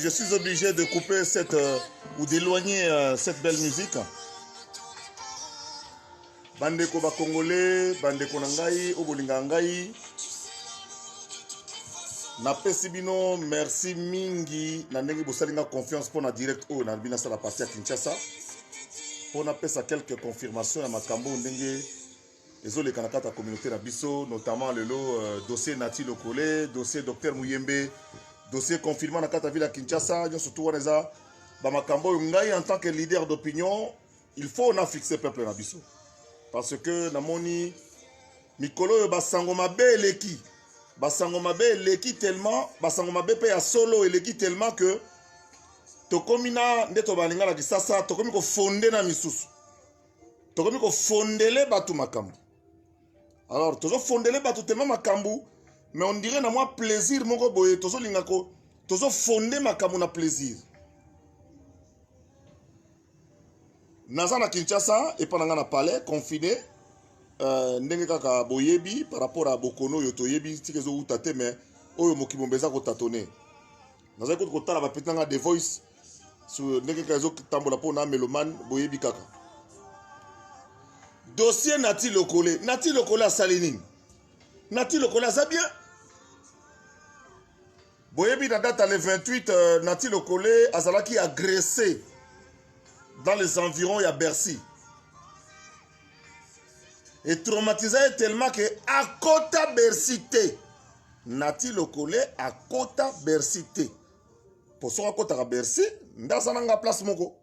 Je suis obligé de couper cette euh, ou d'éloigner euh, cette belle musique. bandeko bakongole bandeko na ngai oyo bolingaka ngai napesi bino merci mingi na ndenge bosali nga confiance mpo na direct oyo nalobi nasala parti ya kinshasa mpo napesa quelques confirmation ya makambo ndenge ezo leka na kati ya communauté na biso notamment lelo euh, dossier Nati Lokole dossier docteur Muyembe dossier confinement na kati ya ville ya Kinshasa nionso tout wana eza ba makambo oyo ngai en tant que leader d'opinion il faut na fixer peuple na biso parce que namoni mikolo oyo basango mabe eleki basango mabe eleki tellement basango mabe mpe ya solo eleki tellement que tokomi na nde tobalinga na kisasa tokomi kofonde na misusu tokomi kofondele bato makambo alors tozofondele bato tema makambo mais on dirait na mwa plaisir moko boye tozolinga ko tozofonde makambo na plaisir naza na kinshasa epa na ngai na palais confine uh, ndenge kaka boyebi par rapport ya bokono oyo toyebi tika ezowuta te mais oyo mokili momba eza kotatone nazali kutu kotala bapeti na ngai the voice so ndenge kaka ezotambola mpo na melomane boyebi kaka dossier nati lokole nati lokole asali nini nati lokole aza bien boyebi na date ya le 28 euh, nati lokole azalaki agressé dans les environs ya bercy etraumatisa ye tellement ke akota bercy te Nati lokole akota Bercy te. Po soki akotaka Bercy, nde aza na nga place moko.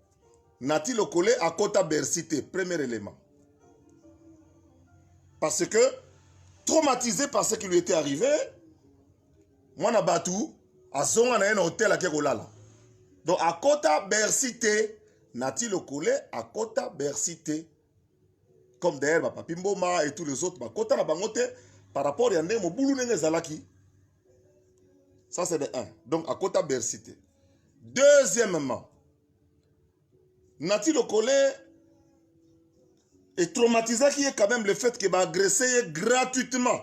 Nati lokole akota Bercy te, premier element. Parce que traumatisé par ce qui lui était arrivé, mwana batu azonga na ye na hotel ake kolala. Donc akota Bercy te. Nati lokole akota Bercy te. comme d'ailleurs ba papi mboma et tous les autres ba kota na bango te par rapport ya ndenge mobulu ndenge ezalaki ça c'est de un donc akota bercy te deuxièmement nati lokole etraumatisaki ye quand même le fait que baagresse ye gratuitement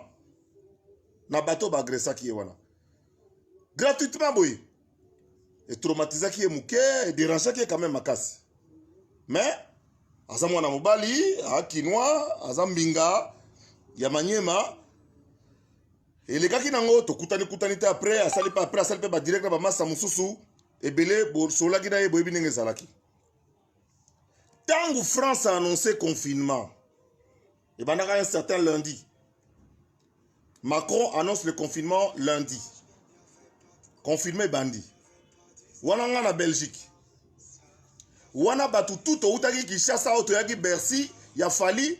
na bato baagressaki ye wana gratuitement boye etraumatisaki ye moke ederangeaki ye quand même makasi mais aza mwana mobali akinois aza mbinga ya manyema elekaki nango tokutani kutani te après asali pe après asali mpe badirect na bamasa mosusu ebele bosolaki na ye boyebi ndenge ezalaki ntango france a annonce confinement ebandaka un certain lundi macron annonce le confinement lundi confirme ebandi wana nga na belgique wana bato tu toutaki kinshasa oyo toyaki bercy ya fali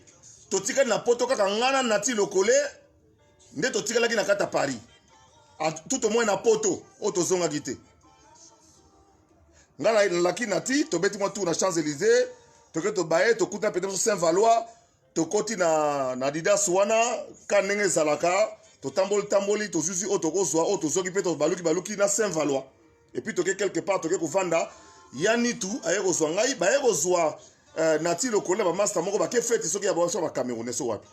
totikali na poto kaka nga na nati lokole nde totikalaki na kati ya paris tout au moins na poto oyo tozongaki te nga na laki na ti tobeti mwa tour na champs élysées toke tobaye tokuta mpe biso saint valois tokoti na, na didas wana ka ndenge ezalaka totamboli tamboli tozuzi oyo tokozwa oyo tozoki mpe tobaluki baluki na saint valois epuis toke quelque part toke kovanda ya nitu aye kozwa ngai baye kozwa eh, nati lokolo na bamasta moko bake feti soki ya baso bacamerounais so wapi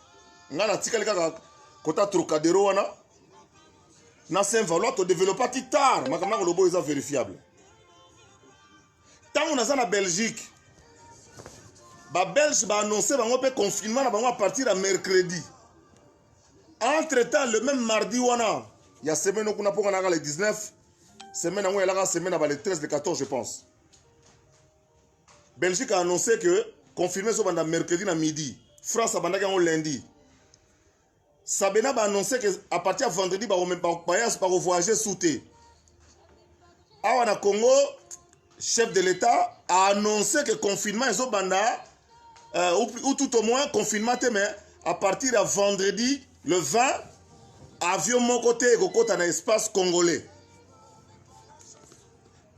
ngai natikali kaka kota trocadero wana na saint valois todevelopaki tard makambo nako lobo eza verifiable ntango naza na belgique babelge baannonce bango mpe confinement na bango à partir ya mercredi entre temps le même mardi wana ya semaine okuna mpo kanaka le 19 semaine yango elaka semaine aba le 13 le 14 je pense belgique a annoncé que confirme ezobanda mercredi na midi france abandaki yango lundi Sabena ba annoncer que à partir ya vendredi ba bayas ba voyager sous te. Awa na Congo chef de l'État a annoncé que confinement est au Banda, euh, ou, ou, tout au moins confinement, mais à partir de vendredi, le 20, avion mon côté et côté dans l'espace congolais.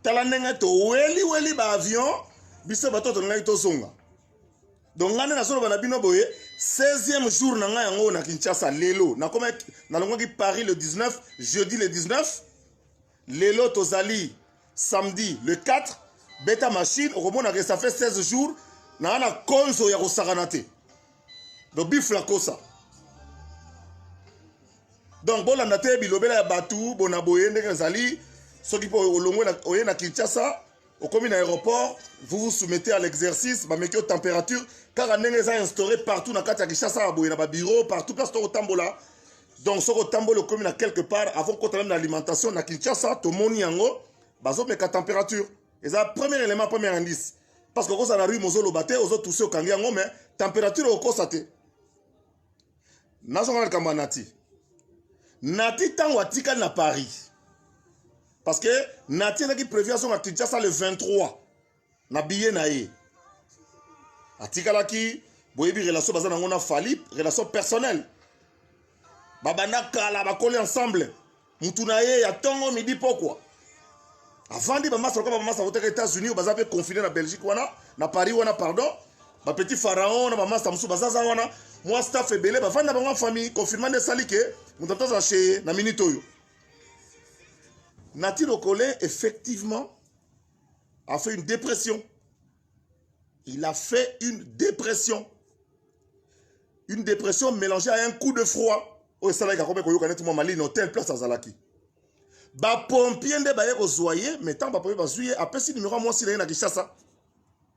Talanenga to weli weli ba avion, biso bato to ngai to zonga. donc ngai nde nazoloba na bino boye 16e jour na ngai yango oyo na kinshasa lelo nalongwaki paris le 19 jeudi le 19 lelo tozali samedi le 4 beta machine okomonaka ça fait 16 jours naa na konzo ya kosakana te donc bifla kosa donc bolanda te bilobela ya bato bona boye ndenge ezali soki mpo olongwe oye na kinshasa okomi na aéroport vous vous soumettez à l'exercice bameki yo température kaka ndenge eza instauré partout na kati ya kinshasa ya boye na babureau partout place to kotambola donc soki otamboli okomi na quelque part avant kota meme na alimentation na kinshasa tomoni yango bazomeka température eza premier élément premier indice parce que okozala na rue mozoloba te ozotuse okangi yango mais température okosa te nazongana likambo ya nati nati ntango atikali na paris parce que nati ezalaki prévu azonga kinshasa le 23 na biye na ye atikalaki boyebi relation baza nango na fali relation personnelle babanda kala bakoli ensemble mutu na ye ya tongo midi pokwa avandi bamasa lokola bamasa koteka états-unis oyo baza mpe confine na belgique wana na paris wana pardon bapetit pharaon na bamasa mosusu bazaza wana mwa staff ebele bavandi na bango famille confirma nde esali ke moto atozala cheye na minute oyo nati lokole effectivement a fait une dépression il a fait une dépression une dépression mélangée à un coup de froid oyo esalaki akomi koyoka neti mwa malino tel place azalaki bapompie nde baye kozwa ye mai ntango bapompie bazwi ye apesi nimero ya mwasi na ye na kinshasa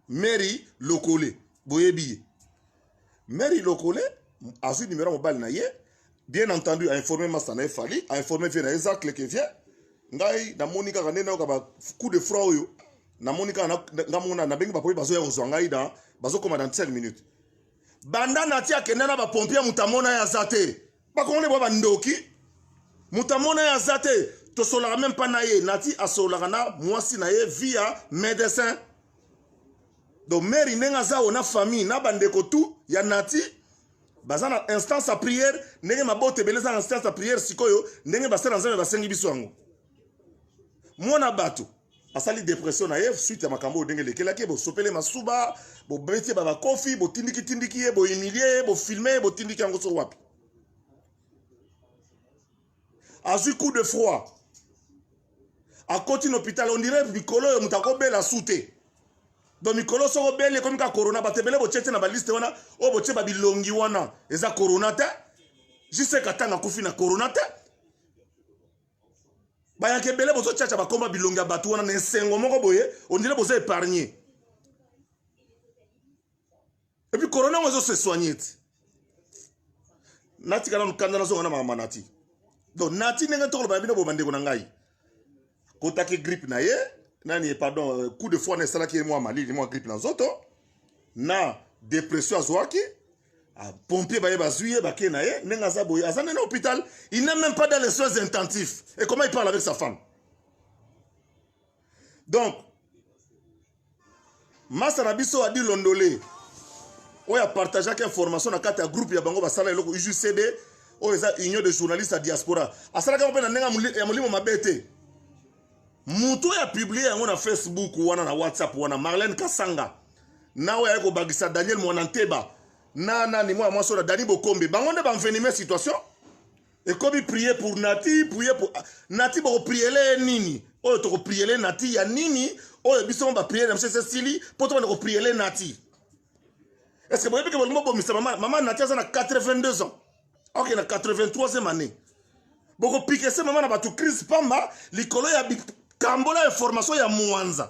mary lokole boyebi ye Mary Lokole azwi numéro ya mobali na ye bien entendu a informer masta na ye Fally a informer vie na ye Zacle que vient ngai namoni kaka nde nayoka ba coup de froid oyo namoni kaka nga mona nabengi bapoye bazoya kozwa ngai na bazokoma dans 5 minutes banda nati akenda na bapompier moto amona ye aza te bakongole bwa bandoki moto amona ye aza te tosolaka meme mpa na ye nati asololaka na mwasi na ye via médecin donc mary ndenge aza oyo na famille na bandeko tout ya nati baza na instance ya prière ndenge mabota ebele eza na instance ya prière sikoyo ndenge basala nzambe basengi biso yango mwana bato asali depression na ye suite ya makambo oyo ndenge elekelaki ye bosopele masuba bobeti ye babakofi botindikitindiki ye bohumilie ye bofilme ye botindiki yango so wapi azwi coup de froid akoti na hôpital ondire mikolo oyo moto akobela su te do mikolo soko obeli ekomi ka corona bato ebele botie te na baliste wana oyo botie babilongi wana eza corona te jiseka ntango akufi na corona te bayaka ebele bozocaca bakoma bilongi ya bato wana na esengo moko boye ondire boza épargne epuis corona yango ezose soigne ti natika nanu kanda nazonga na makambo nati donc nati ndenge tokoloba na bino boye bandeko na ngai kotaki grippe na ye nani pardon euh, coup de foi na esalaki ye mwa malili mwa grippe na nzoto na depression azwaki pompier baye bazwi ye bake na ye ndenge aza boye aza nde na hôpital il n'est même pas dans les soins intensifs et comment il parle avec sa femme donc masa na biso adi londole oyo apartageaki information na kati ya groupe ya bango basala eloko ujcd oyo eza union de journaliste ya diaspora asalaka yango mpe na ndenge ya molimo mabe te moto oyo apiblie yango na facebook wana na whatsapp wana marlene kasanga na oyo ayaki kobakisa daniel mwana nteba na nani mwana mwasi oyo na dani bokombe bango nde banvenime situation ekomi prier pour nati prier pour ah, nati bokopriele ye nini oyo tokopriele nati ya nini oyo biso mo bapriere na biso esi esili mpo tobanda kopriele nati estce boyebi ke bolingi bobomisa mama mama nati aza na 82 ans oke na 83e année bokopikese mama na bato crise pamba likolo ya bikambola ya formation ya mwanza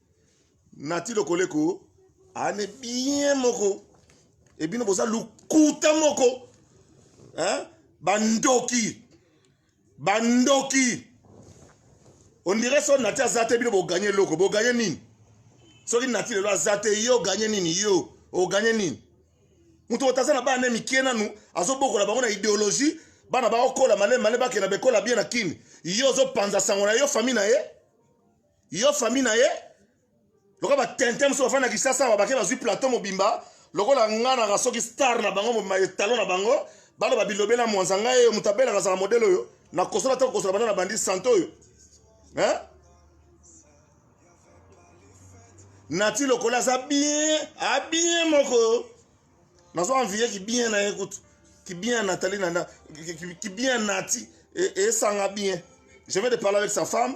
nati lokoleko ane bien moko ebino boza lukuta moko hein? bandoki bandoki ondire so nati aza te bino boganye eloko boganye nini soki nati lelo aza te yo oganye nini yo oganye nini moto moto aza na bana mike nanu azobokola bango na ideologie bana baokola malema ne bakenda bekola bien na kini yo ozopanza sango na yo famille na ye yo famille na ye lokola batente mosusu bafandi na kisasa awa bake bazwi plateau mobimba lokola nga naka soki star na bango mobimba etalo na bango baloba bilobela mwanza ngai oyo moto abelaka azala modele oyo nakosola te kokosola banda na bandi santo oyo nati lokola aza bien abien ah, moko nazo envie kibien na ye kutu kibien natali na kibien nati esanga bien je vais de parler avec sa femme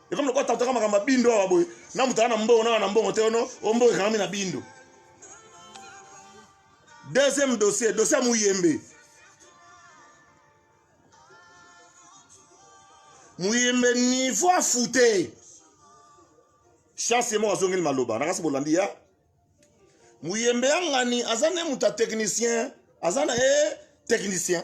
ekomi lokola tantaka makambo ya bindo awa boye na moto aza na mbongo na na mbongo te ono o mbongo ekangami na bindo deuxième dossier dossier ya muyembe muyembe niveau afute chance ye moko azongeli maloba nakasi bolandi ya muyembe ya ngani aza nde moto ya technicien aza na ye eh, technicien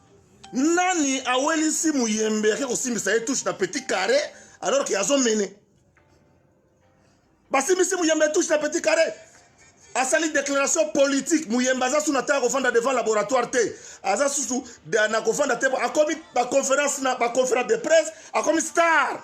nani awelisi muyembe ake kosimbisa ye touche na petit carré alors ke azomene basimbisi muyembe touche na petit carré asali déclaration politique muyembe aza susu na ntango akofanda devant laboratoire te aza susu na kofanda te akomi baconférence na baconférence de presse akomi star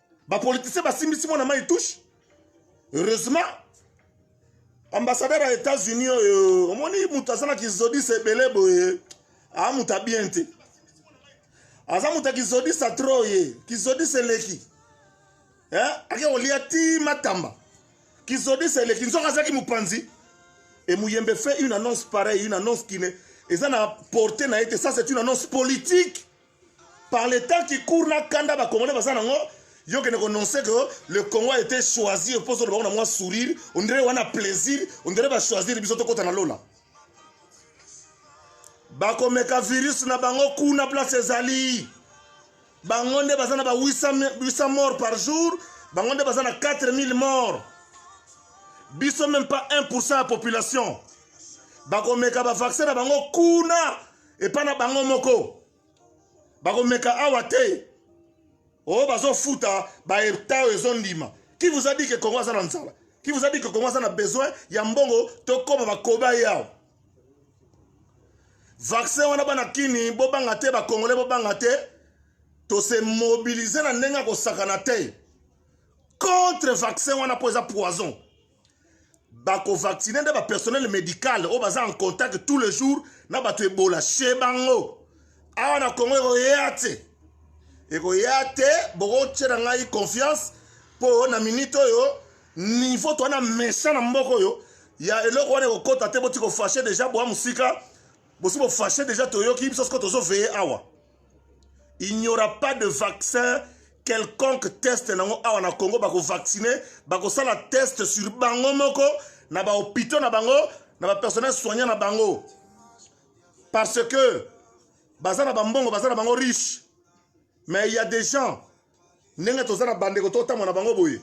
ba politiciens basimbisi mwana mai touche heureusement ambassadeur ya états-unis oyo omoni moto aza na kizodisa ebele boye aa moto abien te aza moto ya kizodisa tro ye kizodisa eleki eh? ake kolia ti matamba kizodisa eleki nzoka azalaki mopanzi et muyembe fait une annonce pareille une annonce qui ne eza na porte na ye te ça c'est une annonce politique par le temps qui court na kanda ba congolais baza nango yo kende ko noncer que le Congo a été choisi pour solo bango na mwa sourire on dirait wana plaisir on dirait ba choisir biso to kota na lola bakomeka virus na bango kuna place ezali bango nde baza na ba 800 morts par jour bango nde baza na 4000 morts biso même pas 1 ya population bakomeka bavaccin na bango kuna epa na bango moko bakomeka awa te o oh, bazofuta baeta oyo ezondima qui vous a dit que congo aza na nzala qui vous a dit que congo aza na besoin ya mbongo tokoma bakoba ye awa vaccin wana bana kini bobanga te bakongole bobanga te tose mobilize na ndenge ya kosakana te contre vaccin wana mpo eza poison bakovaccine nde bapersonnel médical oyo baza en contact tous les jours na bato ebola chez bango awa na congo ekoya te ekoya te bokotye na ngai confiance mpo na minute oyo niveau toa na méchant na mboka oyo ya eloko wana ekokota te boti kofashe deja boa mosika bosi bofashe deja toyoki biso soko tozoveye awa il n'y aura pas de vaccin quelconque test nango awa na congo bakovaccine bakosala test sur bango moko na bahopitaux na bango na bapersonnel soignant na bango parce que baza na bambongo baza na bango riche mais il y a des gens ndenge toza na bandeko totambola na bango boye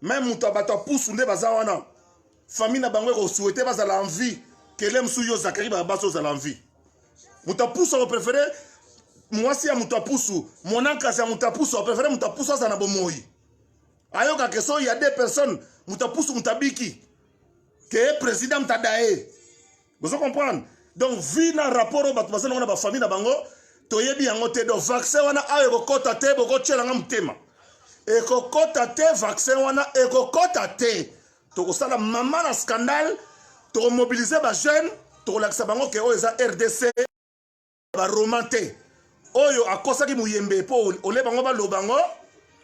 meme moto ya bato ya pusu nde baza wana famille na bango ekosouhaite bazala en vie kele mosusu yo zakari barabasi ozala en vie moto ya pusu akoprefere mwasi ya moto ya pusu monankasi ya moto ya pusu akoprefere moto ya pusu azala na bomoi ayoka ke soki ya deux personnes moto ya pusu moto abiki ke ye président moto adaye bozo comprendre donc vie na rapport oyo bato baza nango na bafamille na bango toyebi yango te donc vaccin wana awa ekokɔta te bokotyela nga motema ekokɔta te vaccin wana ekokɔta te tokosala mama na scandale tokomobilize bajeune tokolakisa bango ke oyo eza rdc ba roman te oyo akosaki muyembe po ole bango baloba ngo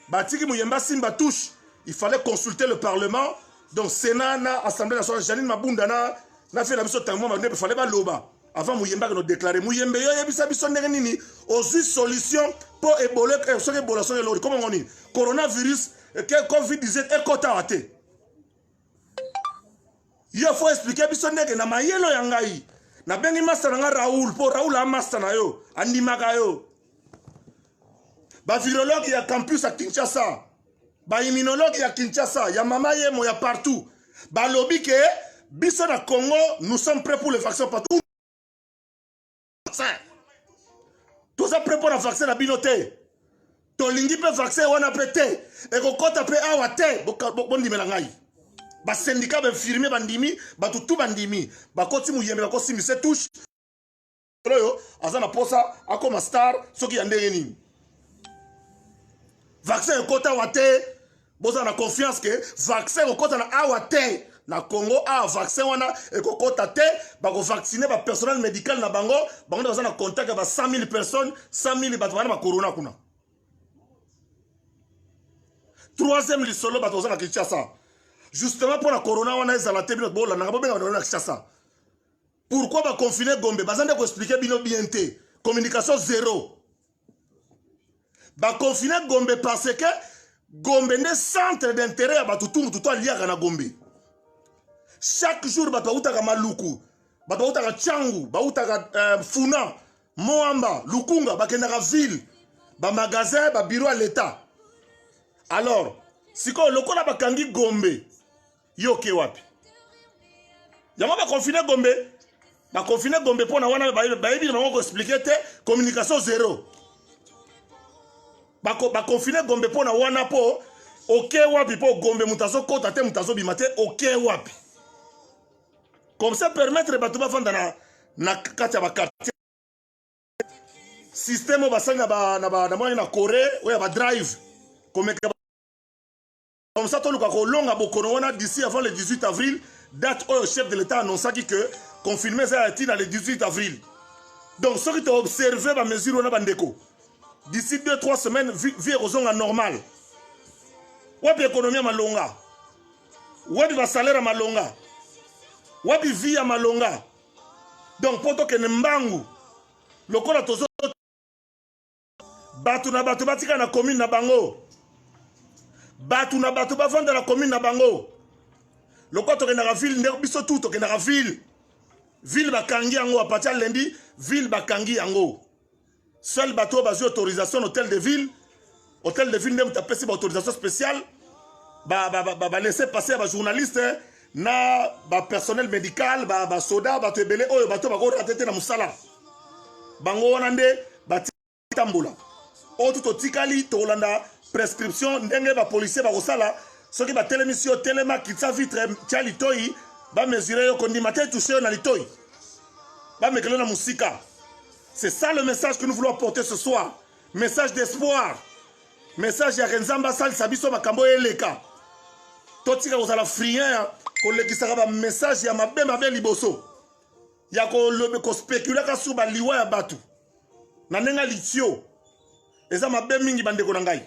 batiki muyembe asimba touche il fallait consulter le parlement donc sénat na assemblée nationale janine mabunda na na fela biso tango mwa il fallait baloba avant muyembe akeno déclare muyembe yo yebisa biso ndenge nini ozwi solution po ebole eh, soki ebola soki elori komongo nini coronavirus eh, covid 19 ekotaka te yo faut expliquer biso ndenge na mayelo ya ngai nabengi masta na ngai raoul mpo raoul amasta na yo andimaka yo bavirologue ya campus ya kinshasa baimmunologue ya kinshasa ya mama yemo ya partout balobi ke biso na congo nous sommes prêt pour le vaccin partout vaccin toza pre mpo na vaccin na bino te tolingi mpe vaccin wana mpe te ekokɔta mpe awa te bondimela ngai basendika bainfirmier bandimi bato tu bandimi bakoti moyembe bakosimbi se touche oyo aza na mposa akoma star soki ya ndenge nini vaccin ekota awa te bozala na confiance ke vaccin ekokota na awa te na congo awa vaccin wana ekokota te bakovaccine bapersonnel médical na bango bango nde baza na contact ya ba 100 000 personnes 100 000 bato bana bacorona kuna troisième lisolo bato baza na kinshasa justement mpo na corona wana ezala te bino bolandaka bobenga bato na kinshasa pourquoi baconfine gombe baza nde koexplike bino bien te communication zero bakonfine gombe parce que gombe nde centre d'intérêt ya bato tu motu to aliaka na gombe chaque jour bato bautaka maluku bato bautaka cangu bautaka euh, funa moamba lukunga bakendaka ville bamagasin babiro ya leta alors sikoyo lokola bakangi gombe yo oke wapi yango bakonfine gombe bakonfine gombe mpo na wana bayebi na bango koexplike te communication zero bakonfine gombe mpo na wana mpo oke wapi mpo gombe moto azokota te moto azobima te oke wapi comme ça permettre bato bafanda na, na kati ya bakartier systeme oyo basali na moni na corée oyo ya badrive komeka Comme ça, toluka kolonga bokono wana d'ici avant le 18 avril, date oyo chef de l'État annonçaki que confinement eza ya ntina le 18 avril. Donc soki to observer ba mesures wana bandeko, d'ici 2-3 semaines vie ekozonga normal. Wapi ekonomi ya malonga? Wapi ba salaire ya malonga? Wapi vie ya malonga? Donc mpo tokende mbangu lokola tozo bato na bato batika na commune na bango bato na bato bavanda na commune na bango lokola tokendaka ville nde biso tu tokendaka ville ville bakangi yango apati ya lendi ville bakangi yango seul bato oyo bazwi autorisation na hôtel de ville hôtel de ville nde moto apesi baautorisation spéciale balese ba, ba, ba, ba passe ya bajournaliste na ba personnel medical ba ba soda bato ebele oyo bato bako rate te na musala bango wana nde batambola oyo tu totikali tokolanda prescription ndenge ba policier bakosala soki batelemisi yo telema kitisa vitre tya litoi bamesure yo kondima te touche yo na litoi bamekele na mosika c'est ça le message que nous voulons apporter ce soir message d'espoir message ya renzamba asalisa biso makambo oyo eleka totika kozala frien ya kolekisaka bamessage ya mabe mabe liboso ya kolobe kospekulaka sur baliwa ya bato na ndenge litio eza mabe mingi bandeko na ngai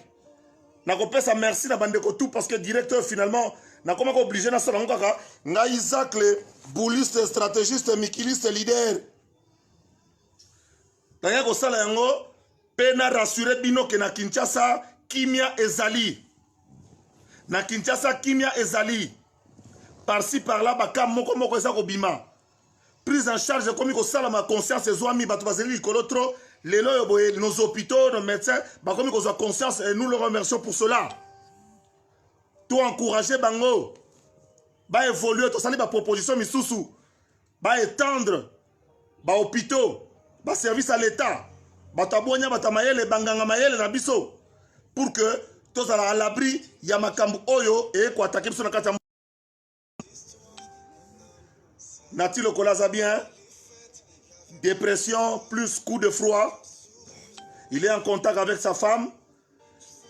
nakopesa merci na bandeko tout parce que direct oyo finalement nakomaki oblige nasala yango kaka ngai zacle bouliste strategiste mikiliste leader naye kosala yango mpe na rassure bino ke na kinshasa kimia ezali na kinshasa kimia ezali parci parla baka moko moko eza kobima prise en charge ekomi kosalama conscience ezwami bato bazali likolo trop lelo oyo boye nos hôpitaux nos médecins bakomi kozwa conscience et nous le remercions pour cela to encourage bango baévolue tosali baproposition misusu ba étendre ba hôpitaux ba service à l'état bato ya bonya bato ya mayele banganga mayele na biso pour que tozala à l'abri ya makambo oyo eye koatake biso na kati ya nati lokola aza bien dépression plus coup de froid il est en contact avec sa femme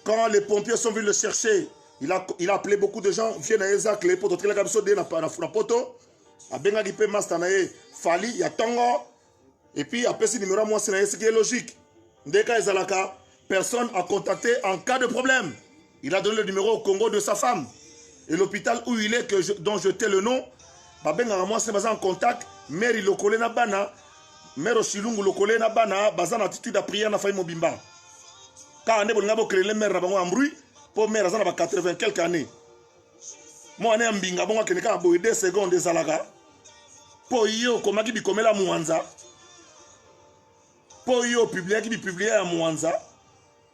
Quand les pompiers sont venus le chercher, il a, il a appelé beaucoup de gens, vieux na Isaac, les potos, tkelaka biso de na, na, na poto, abengaki pe master na ye, Fali, ya tongo, et puis apesi numéro ya mwasi na ye, ce qui est logique. Nde ka ezalaka, personne à contacter en cas de problème. Il a donné le numéro au Congo de sa femme. Et l'hôpital où il est, que je, dont je t'ai le nom, babengaka mwasi na baza en contact, mère ilokole na bana, Mère Osilungu lokole na bana baza na attitude ya prière na famille mobimba. Kaka nde bolinga bo créer mère na bango en bruit po mère aza na ba 80 quelques années. Mwana ya mbinga bongo akende kaka boye 2 secondes ezalaka po ye okomaki bikomela mwanza po yo opubliaki bipiblia ya mwanza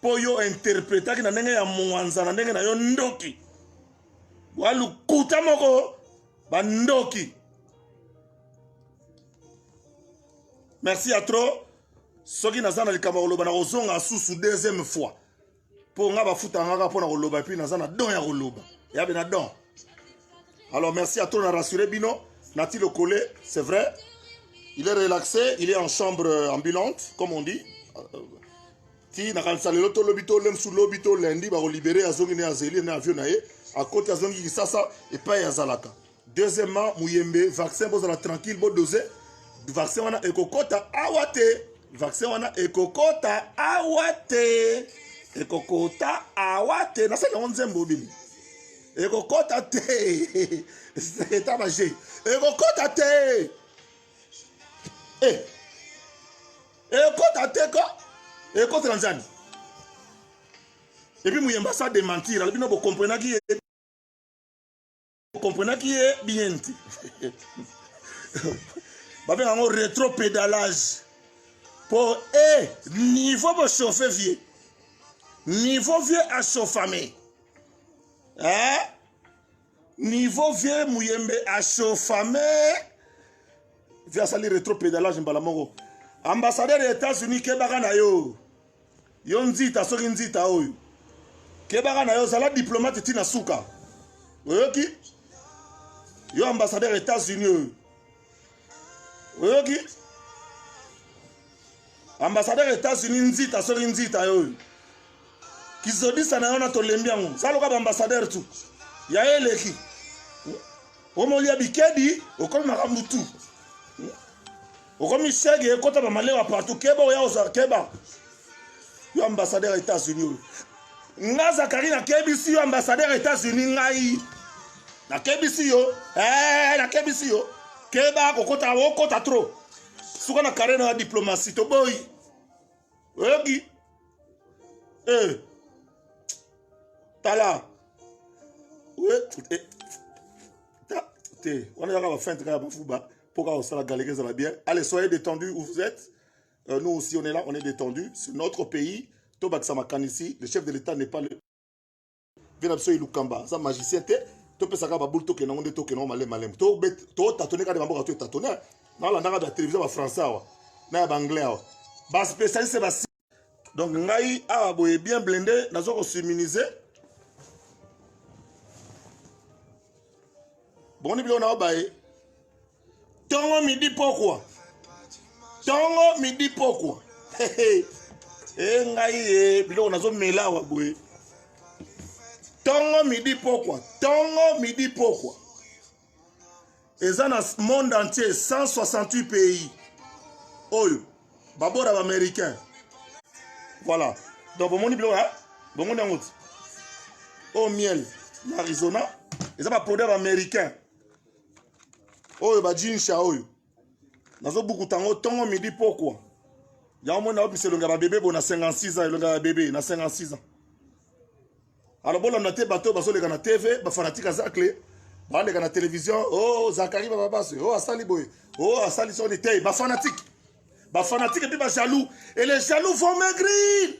po yo interpretaki na ndenge ya mwanza na ndenge na yo ndoki bwa lokuta moko bandoki merci ya trop soki naza na likambo ya koloba nakozonga susu deuxième fois mpo nga bafutaka ngaka mpo na koloba epuis naza na don ya koloba yabe na don alors merci ya trop na rassure bino nati lokole c'est vrai il est relaxé il est en chambre euh, ambulante comme on dit euh, ti nakanisa lelo to lobi to lemsu lobi to lundi bakolibere azongi ne azeli na avion na ye akoti azongi kisasa epai azalaka Deuxièmement, Muyembe, vaccin bozala tranquille, bo dose. Vaccin wana ekokota awa te. Vaccin wana ekokota awa te. Ekokota awa te. Nasali yango nzembo bini. Ekokota te. Eta baje. Ekokota te. Eh. Ekokota te ko. Ekokota nzani. Et puis Muyemba ça démentir. Albino bo comprenaki comprenaki ye bien te babenga yango retro pédalage mpo e eh, niveau bochauffe vieux niveau vieux achauffame eh? niveau vieux muyembe achauffame vieux asali retro pédalage mbala moko ambassadeur ya états-unis kebaka na yo yo nzita soki nzita oyo kebaka na yo zala diplomate ti na suka oyoki yo ambassadeur états-unis oyo oyoki ambassadeur états-unis nzita soki nzita yo oyo kizodisa na yo na tolembi yango saloka baambassadeur tu ya ye eleki omolia bikedi okomi makambo tu okomi sege ekota ba malewa partout keba oya ozwa keba yo ambassadeur ya états-unis oyo nga zakari nakebisi yo ambassadeur ya états-unis ngai nakebisi yo eh, nakebisi yo keba kokota okota trop suka na kare na ya diplomatie toboyi oyoki eh. tala te wana ezaka bafinte kaka bafuba Pour qu'on soit galère, ça va bien. Allez, soyez détendus où vous êtes. Euh, nous aussi, on est là, on est détendus. C'est notre pays. Tobak Samakan ici. Le chef de l'État n'est pas le. Venapso Ilukamba, ça magicien, t'es. topesaka baboule tokende yango nde tokende yango malema malema totatone kaka bamboka toetatone nalandaka ba télévision ba français awa na ya baanglais awa baspécialiste basi donc ngai awa boye bien blende nazo kosiminize boni biloko nao baye tongo midi pokwa tongo midi pokwa e eh, ngai e biloko nazomela awa boye tongo midi pokwa tongo midi pokwa eza na monde entier 168 pays oyo babora baaméricain voilà donc bomoni biloko ya bongo nde yango ti oyo miel na arizona eza baproduit ya baaméricain oyo bajinsha oyo nazobukuta yango ntongo midi pokwa yango moni naopesa elongi ya babebe bo na 56 ans elongi ya babebe na 56 ans alors bolanda te bato oyo bazoleka na tv bafanatike azakle baleka na televizio o oh, zakari bababasi o oh, asali boye o oh, asali soni te bafanatike bafanatike mpe bajaloux et les jaloux vont maigrir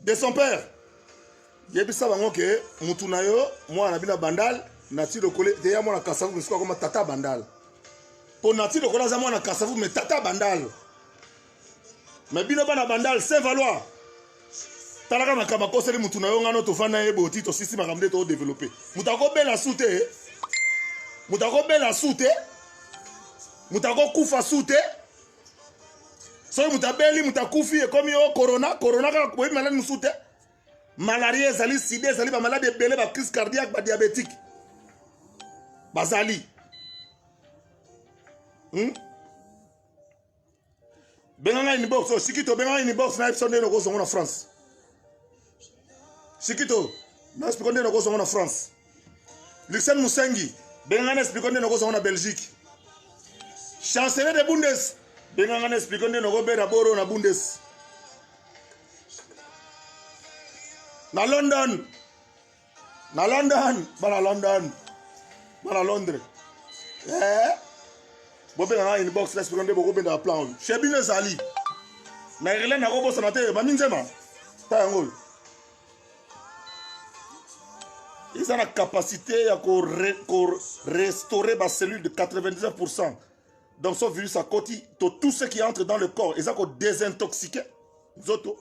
de son père yebisa bango ke mutu na yo mwana na bino ya bandal nati lokole deya mwana kasavu misuku akoma tata bandal mpo nati lokole aza mwana kasavu me tata bandal me bino bana bandal saint valois talaka makambo akoseli mutu na yo ngano tofanda ye boti tosisi makambo nde todeveloppe moto akobela su te moto akobela su te moto akokufa su te soki moto abeli moto akufi ekomi o oh, corona corona kaka boyebi maladi mosusu te malaria ezali sida ezali bamaladi ebele bacrise cardiaque badiabétique bazali hmm? benga ngai nibox osiki tobenga ngai nibox na episode nde nokozongo na france sikito na explika nde nakozwa yango na france luxen musengi benga na explika nde nakozwa yango na belgique chancelier de bundes benga nga na explika nde nakobera boro na bundes na london na london bana london bana londres eh, bobenga nga inbox na espero nde bokobendaka plan oyo chez bino ezali na irlande nakobosana te mami nzema ta yango oyo eza na capacité ya korestaurer bacellule de 99 pourcent donc so virus akoti to tout ce qui entre dans le corps eza kodesintoxique nzoto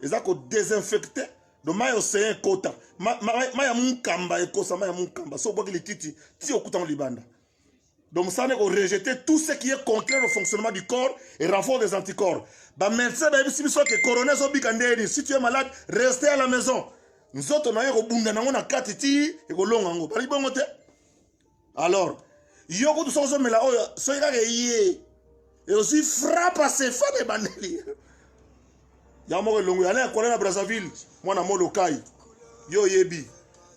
eza kodesinfecte do mai ya ocean ekota mai ya mokamba ekosa mai ya mokamba soki obwaki lititi ti okutango libanda donc mosala nde korejete tout ce qui est contraire au fonctionnement du corps et renfort des anticorps bamédecin bayebisi biso ke corona ezobika ndeni si tu es malade reste à la maison nzoto na yo ekobunda nango na kati ti ekolonga yango balaki bongo te alors yo kutu soki ozomela oyo soki kaka eye ezwi frappe asefa na ebandeli yango moko elongo yana ekola na brazzaville mwana molokai yo oyebi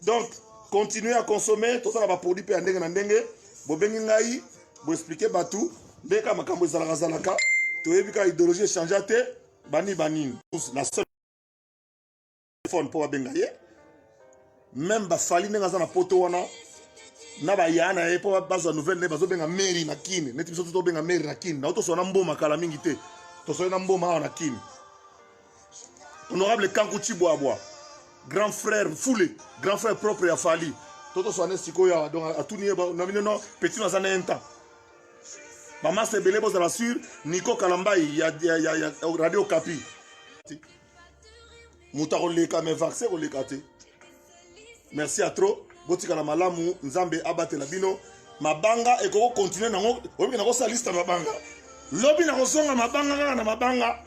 donc continuer à consommer tosala baproduit mpe ya ndenge na ndenge bobengi ngai boexplike bato nde kaka makambo ezalakazalaka toyebi kaka idéologie echangea te banini banini la seule phone mpo babenga ye meme bafali ndenge aza na poto wana na baya na ye mpo bazwa nouvelle nde bazobenga mary na kine neti biso tobenga mary na kine nao toswa na mboma kala mingi te toswali na mboma awa na kine honorable kanku cibwabwa grand frère fule grand frère propre ya fali to toswa ne sikoyo awa donc atuni ye na bino no petit no aza na intan bamasa ebele bozala sur niko kalambai ya, ya, ya, ya radio kapi moto akoleka me vaccin ekoleka te merci ya trop botikala malamu nzambe abatela bino mabanga ekoki kokontinue nango oyebi nakosala liste ya mabanga lobi nakozonga mabanga kaka na mabanga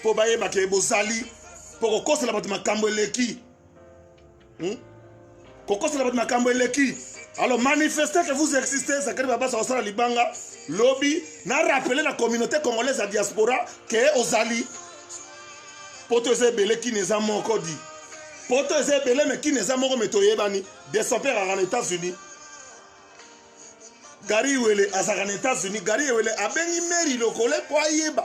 mpo bayebake bozali mpo kokosela bato makambo eleki hmm? kokosela bato makambo eleki alors manifeste que vous existez zakari babasa kosala libanga lobi na rappele na communauté congolaise ya diaspora ke ozali poto eza ebele kini eza moko di poto eza ebele me kini eza moko me toyebani de son père aka na états-unis gari wele azalaka na états-unis gari wele abengi meri lokole mpo ayeba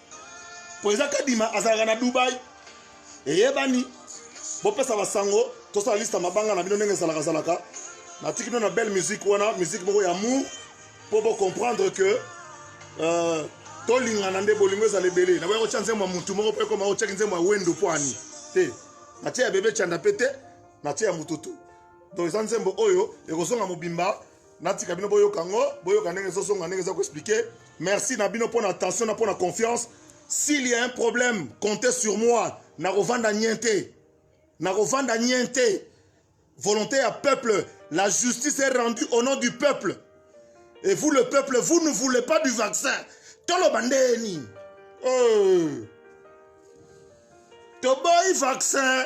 mpo eza kadima azalaka na dubai eyebani bopesa basango tosala liste ya mabanga na bino ndenge ezalakazalaka natiki bino na belle musique wana musique moko ya mour mpo bocomprendre que euh, tolingana nde bolingo ezala ebele naboya kotya nzembo ya motu moko mpo ekoma otyaki nzembo ya wendo mpo ani te natye ya bebe canda mpe te natye ya motutu donc eza nzembo oyo ekozonga mobimba natika bino boyoka yango boyoka ndenge ezozonga ndenge eza koexplike merci na bino mpo na attention na mpo na confiance s'il y a un problème compte sur moi nakovanda nyen te nakovanda nyen te volonté ya peuple la justice est rendue au nom du peuple et vous le peuple vous ne voulez pas du vaccin toloba ndenge nini euh. toboyi vaccin